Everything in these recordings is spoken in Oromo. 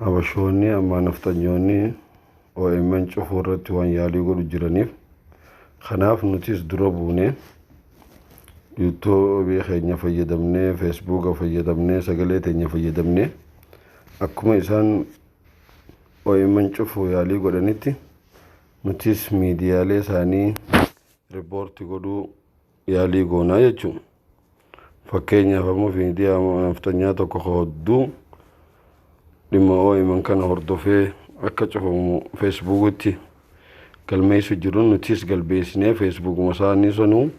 Habashoonni ammaa nafxanyoonni OMN cufuu irratti waan yaalii godhu jiraniif kanaaf nutis dura buunee yuutuubii keenya fayyadamnee feesbuuka fayyadamnee sagalee teenya fayyadamnee akkuma isaan OMN cufuu yaalii godhanitti nutis miidiyaalee isaanii riippoorti godhuu yaalii goonaa jechuun fakkeenyaaf ammoo miidiyaa nafxanyaa tokko ka hodduu dhimma OMN kana hordofee akka cufamu feesbuukitti galmeessu jiru nutis galbeessinee feesbuukuma isaanii sanuu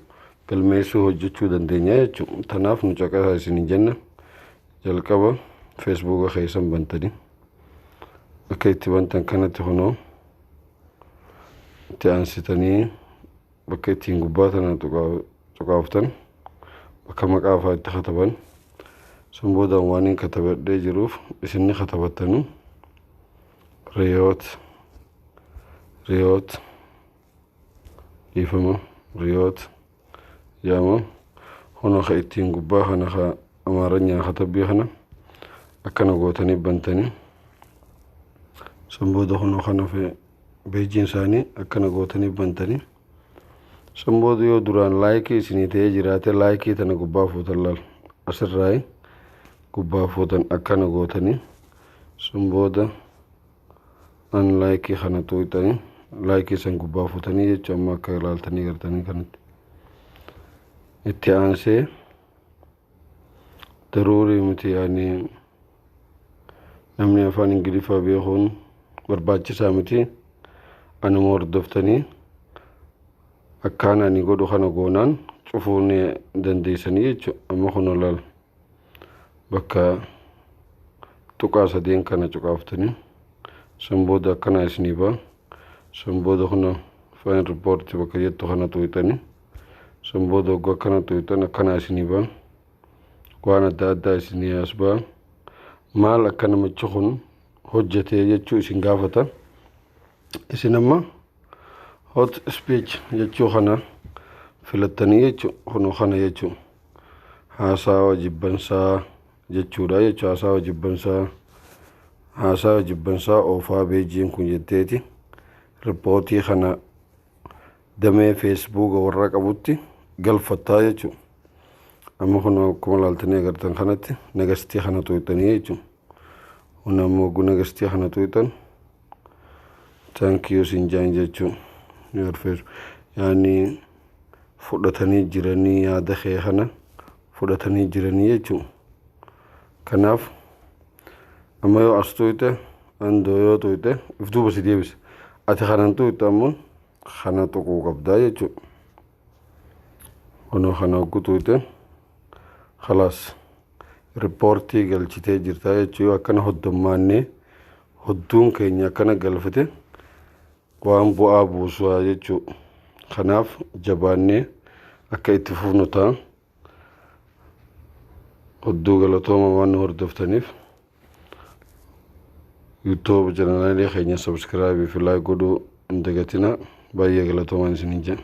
galmeessuu hojjechuu dandeenya jechuudha. Tanaaf nu caqasaa isin jenna jalqaba feesbuuka keessan bantanii akka itti bantan kanatti kunoo itti aansitanii bakka ittiin gubbaa tana cuqaaftan bakka maqaa faa itti kataban sun boodaan waan hin katabadhee jiruuf isinni katabattanu riyoot riyoot dhiifama riyoot yaama hona ka ittiin gubbaa kana ka amaaranyaa katabbii kana akkana gootanii bantanii sun booda hona kana fee Beejiin isaanii akkana gootanii bantani. San booda yoo duraan laayikii isinii ta'ee jiraate laayikii tana gubbaa fuutan laal. Asirraayi gubbaa fuutan akkana gootanii. San booda an laayikii kana tuuqxanii laayikii san gubbaa fuutanii jecha amma akka ilaaltanii gartanii kanatti. Itti aansee daruurii miti yaani namni afaan ingiliffaa beekuun barbaachisaa miti anuma hordoftanii akkaan ani godhu kana goonaan cufuu ni dandeessanii jechu amma kun olaal bakka tuqaa sadeen kana cuqaaftanii san booda akkanaa isinii ba'a san booda kuna faan riippoorti bakka jettu kana tuuxanii San booda hogga akkana tuqxan akkanaa isinii ba'a. Waan adda addaa isinii as ba'a. Maal akka namichi kun hojjetee jechuu isin gaafata. Isin amma hot speech jechuu kana filattanii jechu kunoo kana jechu haasaawa jibbansaa jechuudha jechu haasaawa jibbansaa haasaawa jibbansaa oofaa beejiin kun jetteeti rippootii kana damee feesbuuka warra qabutti galfattaa jechuun amma kun akkuma laaltanii agartan kanatti nagastii kana tuuxanii jechuun kun amma oguu nagastii kana tuuxan taankiyuu siin jaan jechuun yaadfeesu yaani fudhatanii jiranii yaada kee kana fudhatanii jiranii jechuun kanaaf amma yoo as tuuxe andoo yoo tuuxe if duuba si deebisa ati kanan tuuxe ammoo kana tuquu qabdaa jechuudha. Kunoo kana hogguu tuute khalaas riippoortii galchitee jirtaa jechuu yoo akkana hoddommaannee hodduun keenya akkana galfate waan bu'aa buusaa jechuu kanaaf jabaannee akka itti fufnu ta'a. Odduu galatooma waan nu hordoftaniif. YouTube channel keenya subscribe fi like godhuu hin dagatinaa. Baay'ee galatoomaan isiniin jenna.